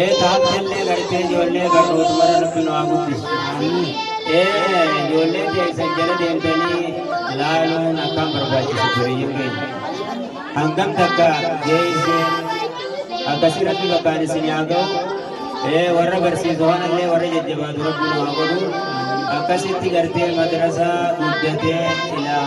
Ee taattellee gartee ijoollee barnootmara rabbi nu haa guddisu. Ee ijoollee keessan jala deemtanii laaluun akkaan barbaachisu duriyyiin keenya. Hangam takka geessee akkasii rabbi bakkaan isin haa ga'u. Ee warra barsiisu kanallee warra jajjabaatu rabbi nu haa godhu. Akkasitti gartee madrasaa guddatee ilaa.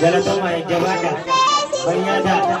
Galatoomaa jajjabaadha. Fayyaa ta'a.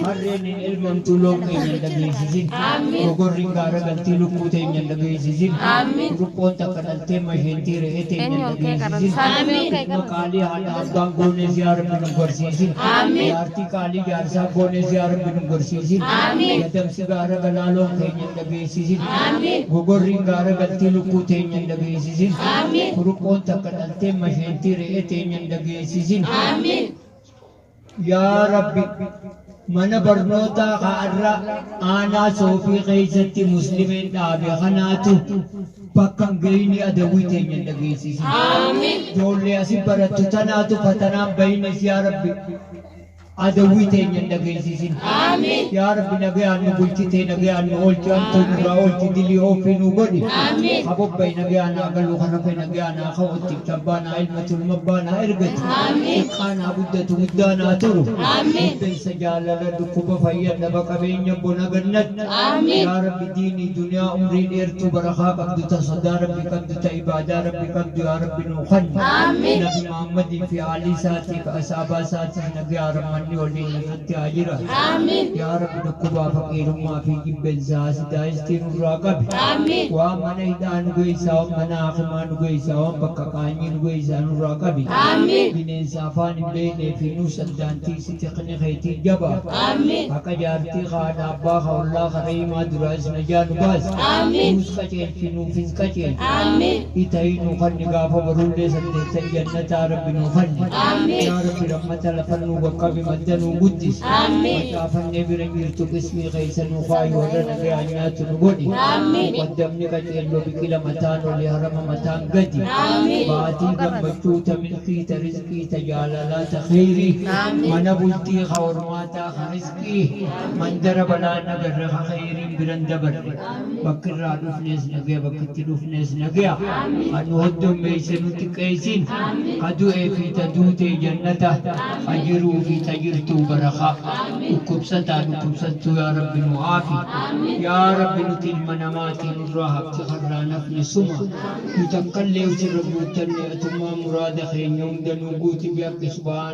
Harreen hin elmamtu loon keenya hin dhageessisin. Gogorri hin gaara galtee lukkuu teenya hin dhageessisin. Ruqqoon takka dhaltee masheentii re'ee teenya hin dhageessisin. Maqaalee haadha abbaan goonee si harbi nu gorsiisin. Jaartii qaalii jaarsaa goonee si harbi nu gorsiisin. Gadamsi gaara galaa loon keenya hin dhageessisin. Gogorriin gaara galtee lukkuu teenya hin dhageessisin. Kuruphon takka dhaltee masheentii re'ee teenya hin dhageessisin. Yaa Rabbi mana barnootaa kaarra aanaa soofii keessatti muslimeen dhaabe kanaatu bakka hin geenye adawwii teenya hin dhageessisin. Ijoollee asi barattu tanaatu fatanaan bahinis yaa Rabbi. Adawwii teenya hin dhageessisin. Aamiin. Yaa Rabbi nagayaan nu bulchitee nagayaan nu oolchi hamtuu nurraa oolchi dilii ooffii nuu godhi. Aamiin. Ka bobba'e nagayaan haa galu ka rafe nagayaan haa ka'u itticha abbaan haa ilmatu ilma abbaan haa ergatu. Aamiin. Xiqqaan haa guddatu guddaan haa turu. Aamiin. Muddansa jaalala dhukkuba fayya dhaba qabeenya bona gannatti. Aamiin. Yaa Rabbi diinii duniyaa umrii dheertuu barakaa qabdu ta sodaa Rabbi qabdu ta ibaadaa Rabbi qabdu yaa Rabbi nuu kanni. Aamiin. Nabi Muhammadiif fi Aalii isaatiif, Asaabaa isaatiis nagayaa Rahmanni waliin irratti haa jiraatu. Yaa Rabbi dhukkubaa faqiirummaa fi jibbensa haasidaa histii nurraa qabi. Waan mana hidhaa nu geessaa, waan mana haakimaa nu geessaa, waan bakka qaanyii nu geessaa nurraa qabi. Bineensa afaan hin beeknee fi nuus addaan tiiksi tikni keetii jabaa. Haqa jaartii, ka haadha abbaa, ka ollaa, ka rahiimaa duraayis najaa nu baasi. Nuus qaceelchi, nuus. isin qajeelchu. Aamiin. Itayii nuu kanni gaafa barullee saddeettan jannataa rabbi nuu kanni. Aamiin. Yaa rabbi rammata lafa nuu qaqqabi madda nuu guddisi. Aamiin. Maqaa fannee bira hin jirtu qismii keessa nuu kaayi warra nagaa nyaatu nu godhi. Aamiin. Muqaddamni qajeelloo biqila mataan oli harama mataan gadi. Aamiin. Maatii gammachuu ta milkii ta rizqii ta jaalalaa ta kheyrii. Aamiin. Mana bultii ka hormaataa ka rizqii. Rabbi mandara balaan agarre ka kheeyriin biran dabarre bakki irraa dhufnees nagaya bakki itti dhufnees nagaya ka nu hoddommeeyse nu xiqqeeysin ka du'ee fi ta duutee jannata ka jiruu fi ta jirtuu barakaa dhukkubsataa dhukkubsattuu yaa Rabbi nu aafi yaa Rabbi nuti ilma namaati nurraa hafti ka irraa hin hafne suma nu takkallee usirra guuttanne atummaan muraada keenya hunda nuu guuti bihaqqi subhaana